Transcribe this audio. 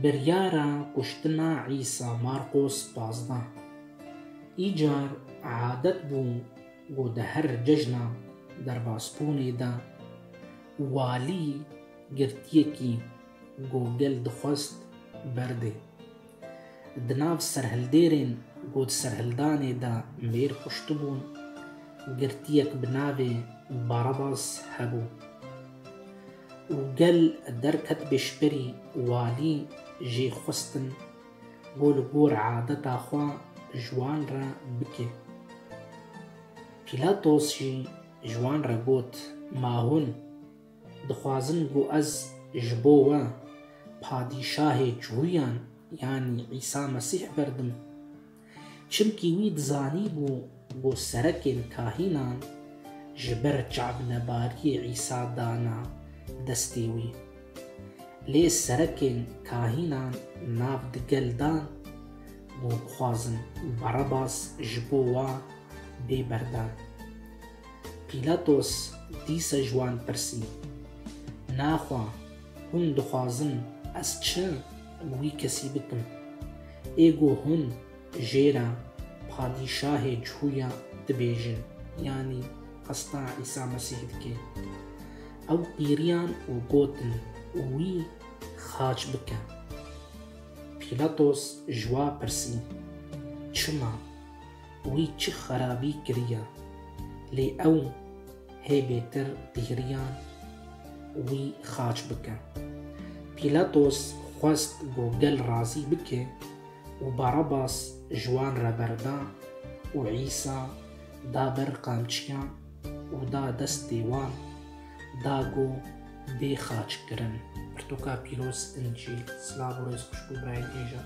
Biryara kuştina Îsa Marqos pazdeh Îcar adet bû ku di her cejna derbasbûnê de walî girtiyekî ku gel dixwest berdê. Di nav serhildêrên ku di serhildanê de mêr kuştibûn, girtiyek bi navê Barabas hebû û gel derket bêşberî walî jê xwestin ku li gor adeta xwe ji wan re bike. Pîlatos jî ji wan re got, Ma hûn? Dixwazin ku ez ji bo we padîşahê çûyan yanî Îsa Mesîh berdim. Çimkî wî dizanîbû ku serekên kahînan ji ber çavnebariyê Îsa dana destê wî. Lê serekên kahînan nav di gel dan ku bixwazin Barabas ji bo we bê berdan. Pîlatos dîsa ji wan pirsî, Naxwa hûn dixwazin ez çi li wî kesî bikim? Ê ku hûn jê re Padîşahê cuya dibêjin yanî hesta Îsa Mesîh dike? Ew qîriyan û gotin wî xaç bike. Pîlatos ji wa pirsî, Çima? wî çi xerabî kiriya, lê ew hê bêtir dihriyan wî xaç bike. Pîlatos xwest ku gel razî bike û Barabas ji wan re berda û Îsa da ber qamçiyan û da destê wan, da ku bê xaç kirin. Pirtûka Pîroz, Încîl. Silav û rêz xweş bo birayên êjan.